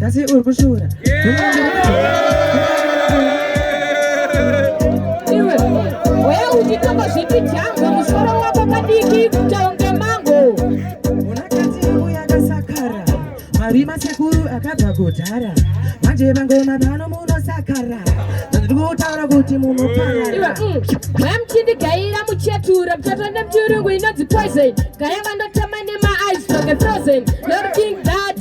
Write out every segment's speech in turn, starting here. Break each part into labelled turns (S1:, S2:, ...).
S1: Kasi uri kushura. Iwe, wewe uchitamba zvipi chamba musoro wako kadiki kutaunga mango. Unakati yangu yakasakara. Marima sekuru akabva kudhara. Manje mangoma pano munosakara. Ndiri kutaura kuti munoparara. Iwe, mm, mwamchindigaira muchetura muchatonda muchirungu inonzi poison. Gaya vandotama nema eyes like a frozen. Lord King Dad.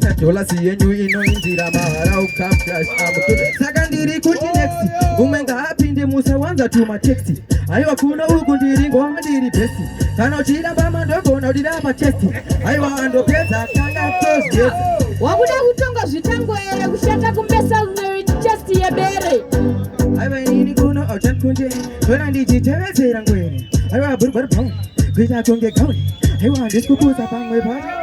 S1: Dolasi yenyu inoindira mahara ukamflash saka ndiri kuti next umwe ngaapinde musawanza tuma taxi aiwa kuno uku ndiri ngoma ndiri besi kana uchida bama ndogona udira machesti aiwa andopedza kanga tozigeza wakuda kutonga zvitango here kushata kumbesa unoit chest yebere aiwa inini kuno auchani kunje ndona ndichitevedzera ngwere aiwa burugwa ribhauni kuita kunge gauni aiwa handisi kupusa pamwe paa